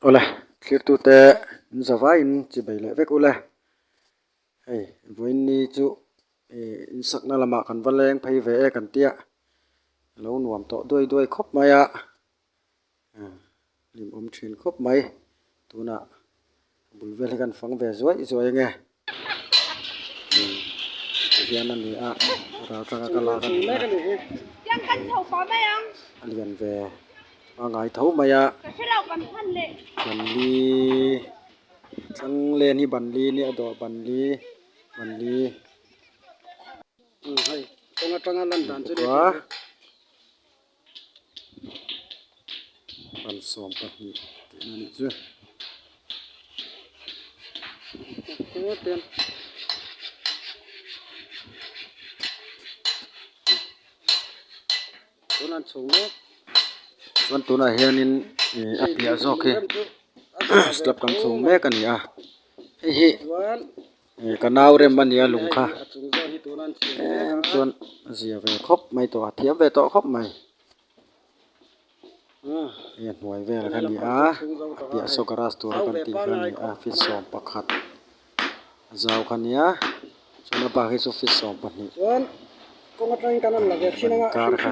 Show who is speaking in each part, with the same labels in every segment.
Speaker 1: Awle thliktute min za vaiin chi bei leh vek ule hei vawiinni chu ih insakna lamah kan va leng phei ve e kan tia lo nuam tawh duai duai khawp mai a. hlim awm thin khawp mai tunah a bul vel hi kan fang ve zuai zuai eng nge ti hian a ni a ral changa ka lak a ni
Speaker 2: a a lian ve
Speaker 1: a ngai tho mai a
Speaker 2: banni
Speaker 1: chhang len hi banni a ni a dawh banni banni
Speaker 3: tawng atanga lan dan chu a ni a.
Speaker 1: kalsawm pahnih
Speaker 3: tihna nih chu
Speaker 1: chuan tunah hianin a piah zawk hi slab kan chhung mek a ni a hei hi--
Speaker 3: Ka nau
Speaker 1: rem a nia lung kha
Speaker 3: em chuan a
Speaker 1: zia ve khawp mai tawh a thiam ve tawh khawp mai hei a hnuai vel kha ni a a piah saw garage tur a kan tih kha a ni a fish sawm pakhat a zau kha nia chuan a bak hi chu fish sawm pahnih
Speaker 3: an inkar kha.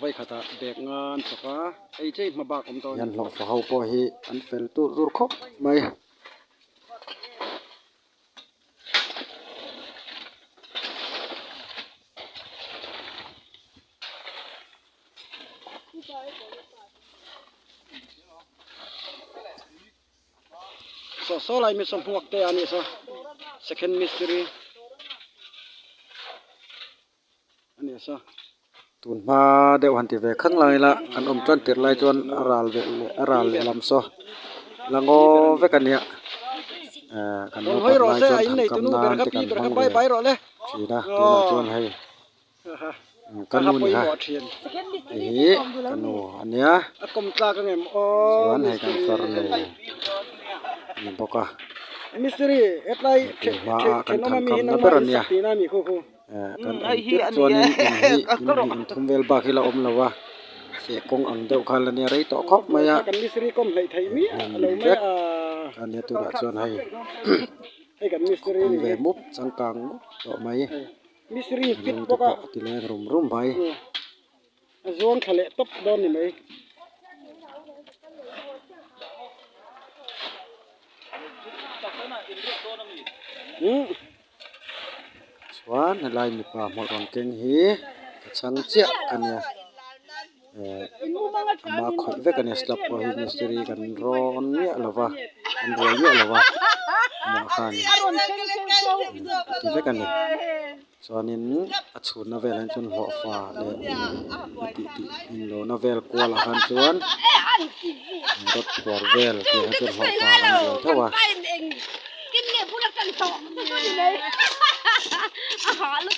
Speaker 3: Vawikhatah bag nga an chawk a, ei che i hma bak awm tawh a ni. Hian hlawhfa ho pawh hi
Speaker 1: an fel tur tur khawp mai.
Speaker 3: Saw saw lai miss sawnghuak te a nih saw second mistiri. A ni sa, tun hma
Speaker 1: deuh han ti ve khang la ila kan awm chuan tirh lai chuan a ral ve leh a ral leh lam saw la ngaw vek a nia ehh kan naupang lai chuan thankam nan
Speaker 3: te
Speaker 1: kan
Speaker 3: hmang ve thin a
Speaker 1: tunah chuan hei ka nu ni ha hei hi ka nu a nia
Speaker 3: chuan hei kan fer
Speaker 1: nu a ni bawk a tun
Speaker 3: hma ah kan
Speaker 1: thankam na ber a nia.
Speaker 3: kan awm
Speaker 1: tir chuanin inneih inneih inthum vel bak hi la awm lo a heh kawng ang deuh khan la nia rei tawh khawp mai a hmun
Speaker 3: vek a nia
Speaker 1: tunah chuan hei
Speaker 3: khawpui ve mup changkang
Speaker 1: mup tawh mai lungte
Speaker 3: pawh a ti leng rum
Speaker 1: rum
Speaker 3: mai.
Speaker 1: A
Speaker 3: zuang thla leh tawp dawn ni mai.
Speaker 1: Chuan helai mipa hmawlh rawn keng hi ka chhang chiah ka nia ehh ama khawih vek a nia slab pawh hi mistiri kan rawn miah lo va kan ruai miah lo va amah khan ti vek a ni. Chuanin a chhunna vel ah chuan hlawhfa leh a tih tih in lohna vel kual ah khan chuan rod phuar vel tih ah khan chuan hlawhfa kan buai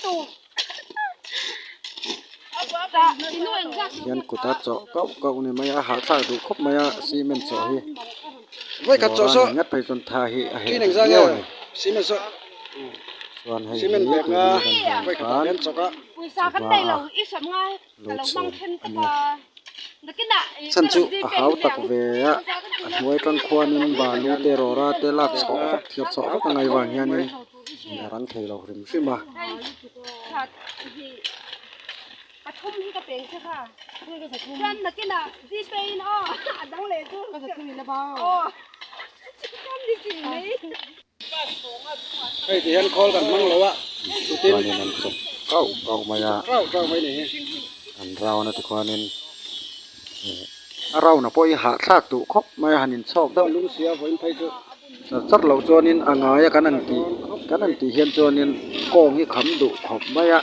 Speaker 1: theuh a. Hian kuta chawh kauh kauh a ni mai a, a harhthlak duh khawp mai a cement chawh hi.
Speaker 3: boruanin ngat pawhin chuan tha hi
Speaker 1: a heh theih viau
Speaker 3: a ni chuan
Speaker 1: hei hi tui hi kan huam
Speaker 3: khan chuvang a lo chhun a nia
Speaker 2: chhan chu
Speaker 1: a hau tak ve a a hnuai atang khuanin balu te rawra te lak chhuah vak thlir chhuah vak a ngai vang hianin a rang thei lo hrim hrim a.
Speaker 2: Pathum hi ka peng che kha. Chuan nakin ah GPay in aw a dang leh chu. Ka zathum in ava. Aw. Chuan ni chin
Speaker 3: mai. Hei ti hian khawl kan hmang lo a. Chuan in an
Speaker 1: chawp kau kau mai a. Kau kau mai ni
Speaker 3: hi. An round
Speaker 1: a tikhuan in a round a pawh hi hah thlak duh khawp mai a han in chhawk deuh. Lungsia vawiin phei chu.
Speaker 3: Char char lo chuan
Speaker 1: in a ngai a kan an tih kan an tih hian chuan in kawng hi kham duh khawp mai a.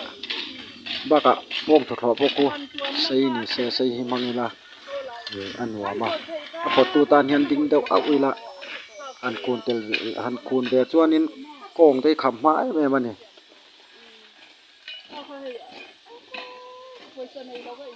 Speaker 1: Bakah pawm thawthlawh pawh ku sei ni se sei hi hmang ila ih a nuam a, a pawttu tan hian ding deuh auh ila han kun tel ve ih han kun ve chuanin kawng te hi kham hma em em a ni.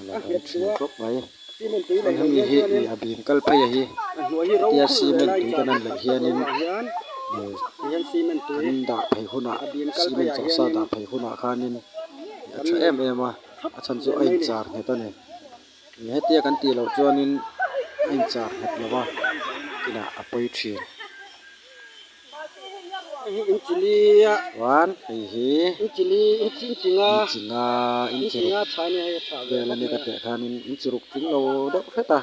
Speaker 3: Ala kan chhia
Speaker 1: tawp mai. Chuan
Speaker 3: hemi hi mi a
Speaker 1: bim kal phei a hi. Hetia
Speaker 3: cement tui kan han
Speaker 1: laih hianin
Speaker 3: kan dah phei hunah
Speaker 1: cement chawh sa dah phei hunah khanin mi a tha em em a, a chhan chu a in char nghet a ni. Hetia kan tih loh chuanin a in char nghet lova, a pawi thin.
Speaker 3: Chuan hei
Speaker 1: hi
Speaker 3: inchihna
Speaker 1: inchiruk
Speaker 3: vel ania ka teh khanin
Speaker 1: inchiruk tling lo deuh hret a,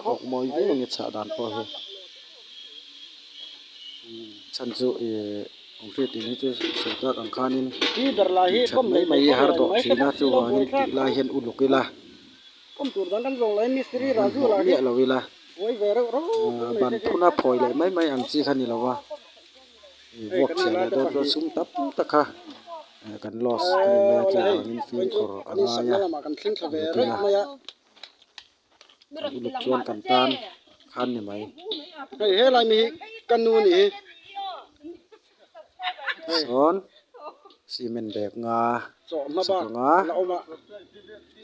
Speaker 1: awkmawi viau ania chhah dan pawh hi, chhan chu ih aw hriat theih hi chu sawi tak ang khanin inchhat
Speaker 3: mai mai har tawh
Speaker 1: thinna chuvangin tih lai hian uluk ila,
Speaker 3: inhawh miah miah lo ila. ban phun a
Speaker 1: phawi leh mai mai ang chi kha ni lo va ih vuak chhiah leh dawn dawn sum tam tak a eh kan loss a ni mai a tlai ah hian fill khawr a ngai a a hmu
Speaker 3: thin a kan uluk
Speaker 1: chuan kan tan khan ni mai. sawn cement bag nga chhak ang
Speaker 3: a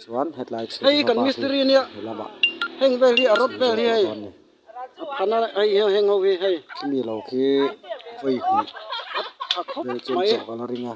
Speaker 3: chuan
Speaker 1: hetlai
Speaker 3: chhun hi a khami lo khi
Speaker 1: vawi hmuh vel chawm
Speaker 3: chawh ka la ring
Speaker 1: a.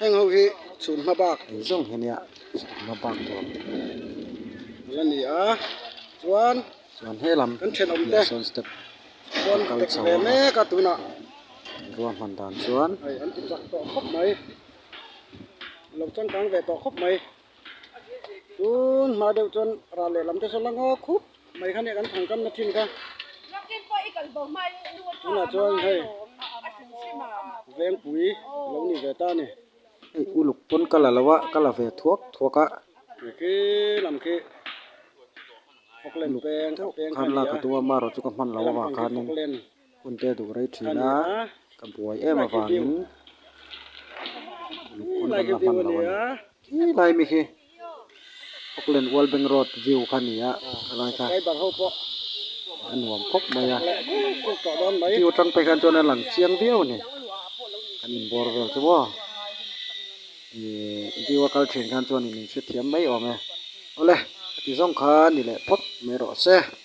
Speaker 3: heng ho hi chhun hma bak ni zawng hi nia
Speaker 1: chhun hma bak tur
Speaker 3: ala ni a chuan chuan helam
Speaker 1: kan thenawm te sawn
Speaker 3: step
Speaker 1: pawn kal
Speaker 3: chho ve mek a tunah ruah
Speaker 1: hman dan chuan hei an ti chak tawh
Speaker 3: khawp mai an lo changkang ve tawh khawp mai. tun hma deuh chuan ral leh lam te sawi langa khup mai kha nia kan thang kamna thin kha tunah chuan hei vengpui lo ni ve ta a ni hei uluk
Speaker 1: pawn ka la lo a ka la ve thuak thuak a tui khi
Speaker 3: lam khi fawk len peng a peng kha nia helai lam pang
Speaker 1: chu ka hman lo avang khanin. Hunte
Speaker 3: duh rei
Speaker 1: thin a, ka buai em avangin lukhum kan la hman lo a ni.
Speaker 3: Khee lai
Speaker 1: mi
Speaker 3: khi
Speaker 1: Auckland World Bank Road view kha a ni a, helai kha a
Speaker 3: nuam
Speaker 1: khawp mai a.
Speaker 3: View atang phei khan chuan a lang
Speaker 1: chiang viau a ni, kan inbuar vel chu maw. Ihh view a kal thin khan chuan in inhriat thiam mai awm e. Awle, ti zawng kha ni leh phawt mai rawh se.